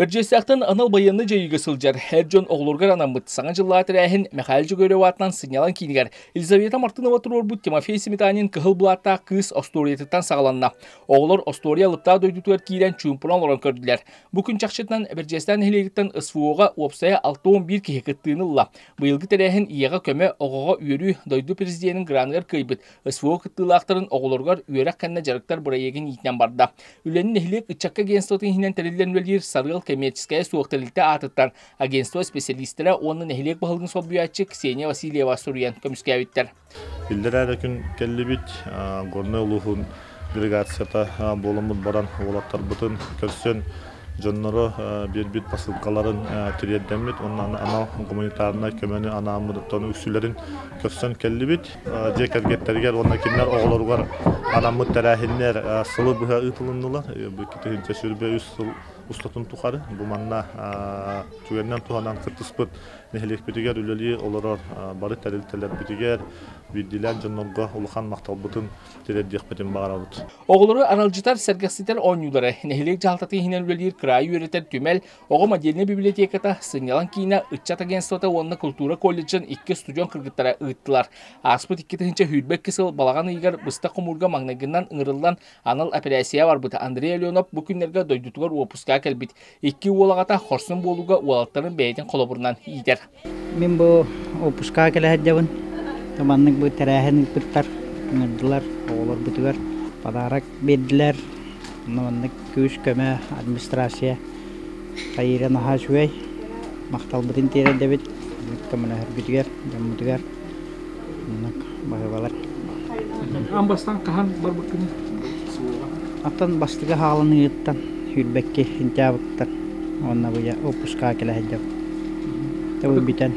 Бэрдьиэстээхтэн анал байыаннай дьайыыга сылдьар эр дьон оҕолоругар анаммыт Саҥа дьыллаах тэрээһин Мэхээлэ Дьөгүөрэп аатынан сынньалаҥ киинигэр Елизавета Мартынова туруорбут Тимофей Сметанин Кыһыл былааттаах кыыс остуоруйатыттан саҕаланна. Оҕолор остуоруйа алыптаа дойдутугар киирэн чуумпунан олорон көрдүлэр. Бу күн чахчытынан Бэрдьиэстээх нэһилиэгиттэн СВО-га уопсайа 6-11 киһи кыттыыны ылла. Быйылгы тэрээһин ийэҕэ көмө, оҕоҕо үөрүү, дойду президенин граныгар кыайбыт СВО кыттыылаахтарын оҕолоругар үөрэх кэннэ дьарыктар бырайыагын иитинэн барда. Үлэни нэһилиэк ыччакка агентствотын иһинэн тэриллэн үлэлиир Сарыал коммерческая суох тэрилтэ аатыттан агентство специалистара уонна нэһилиэк баһылыгын солбуйааччы Ксения Васильева суруйан көмүскээбиттэр. Биллэрээ да күн кэллибит Горнай улууһун делегацията буоламмыт баран уолаттарбытын көрсөн дьонноро биэрбит посылкаларын тириэрдэммит уонна анал гуманитарнай көмөнү анааммыттан үксүлэрин көрсөн кэллибит дьиэ кэргэттэригэр уонна кинилэр оҕолоругар анаммыт тэрээһиннэр сылы быһа ыытылыннылар бу икки тыһыынча сүрбэ үс сыл устатын тухары бу манна чугэннэн туһанан кыттыспыт нэһилиэкпитигэр үлэлии олорор бары тэрилтэлэрбитигэр биирдиилээн дьоннорго улахан махталбытын тиэрдиэхпитин баҕарабыт. Оҕолору аралдьытар, сэргэхситэр оонньуулара, нэһилиэк дьаһалтатын иһинэн үлэлиир кыраайы үөрэтэр түмэл, оҕо модельнай библиотеката, сынньалаҥ киинэ, ыччат агентствота уонна култуура колледжын икки устудьуон кыргыттара ыыттылар. Ааспыт икки тыһыынча сүүрбэкки сыл балаҕан ыйыгар быстах хомуурга маҥнайгынан ыҥырыллан анал эпэрээссийэ барбыт Андрей Аленов бу күннэргэ дойдутугар уоппуска кэлбит Икки уол аҕата хорсун буолууга уолаттарын бэйэтин холобурунан иитэр. Мин бу уоппускаҕа кэлэ сылдьабын. Маннык бу тэрээһин ыыппыттар, ыҥырдылар оҕолорбутугар подарок биэрдилэр. Маннык күүс-көмө, администрация Таира наһаа үчүгэй. Махталбытын тиэрэйдэбит көмөлөһөргүтүгэр, дьоммутугар. Маннык баһыыбалар. Аан бастан хаһан барбыккыный? Оттон бастыгы хаалыныыттан сүүрбэкки сентябрьтан уонна быйа выпускаҕа кэлэ сылдьабын. Тыбы бүтэн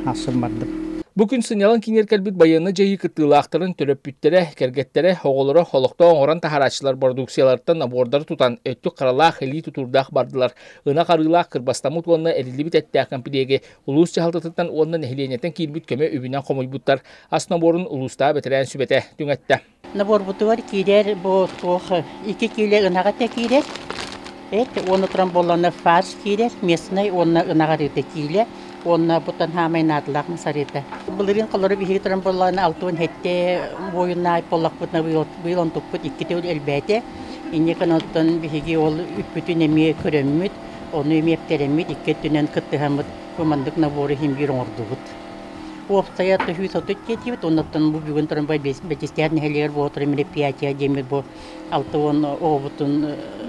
хаалсан бардым. Бу күн сынньалаҥ киҥир кэлбит байыанны дьайыы кыттыылаахтарын төрөппүттэрэ, кэргэттэрэ, оҕолоро олохтоох оҥорон таһаарааччылар бородууксуйаларыттан набордары тутан, өттүк харалаах, илии тутуурдаах бардылар. Ынах арыылаах, кырбастаммыт уонна эриллибит эттээх кэмпириэги Улуус дьаһалтатыттан уонна нэһилиэнньэттэн киирбит көмө үбүнэн хомуйбуттар ас наборун улуустаах бэтэрээн сүбэтэ түҥэттэ. Наборбутугар киирэр бу туох iki киилэ ынаҕа этэ киирэр. Эт уонна туран боллоно фарш киирэр, местнай уонна ынаҕ арыыта киилэ уонна буттан хаамай наадалаах мусарыыта. Былырыын холору биһиги туран боллоно алтуон хетте буойуннаай поллакпыт на быйыл онтукпут иккитэ элбээтэ. Инньэ гынан оттон биһиги ол үппүтүн эмиэ көрөммүт. Ону эмиэ эптэрэммит икки өттүнэн кыттыһаммыт командык набору иһин биир оҥордубут. Уопсайа тыһыыс отут киэтиибит, оннуттан бу бүгүн туран Бэчистээх нэһилиэгэр буолтар мероприятия диэммит бу алта уон оҕобутун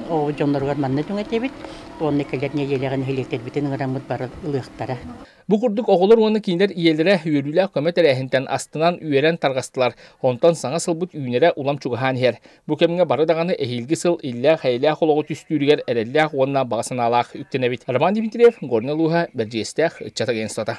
оҕо дьонноругар манна түҥэтэбит уонна кэлэр нэдиэлэҕэ нэһилиэктэрбитин ыҥыраммыт бары ылыахтара. Бу курдук оҕолор уонна кинилэр ийэлэрэ үөрүүлээх көмө тэрээһинтэн астынан үөрэн тарҕастылар. Онтон саҥа сылбыт үүнэрэ улам чугаһаан иһэр. Бу кэмҥэ бары даҕаны эһиилги сыл иллээх-эйэлээх олоҕу түстүүрүгэр эрэллээх уонна баҕа санаалаах үктэнэбит. Роман Дмитриев, Горнай улууһа, Бэрдьиэстээх, ыччат агентствота.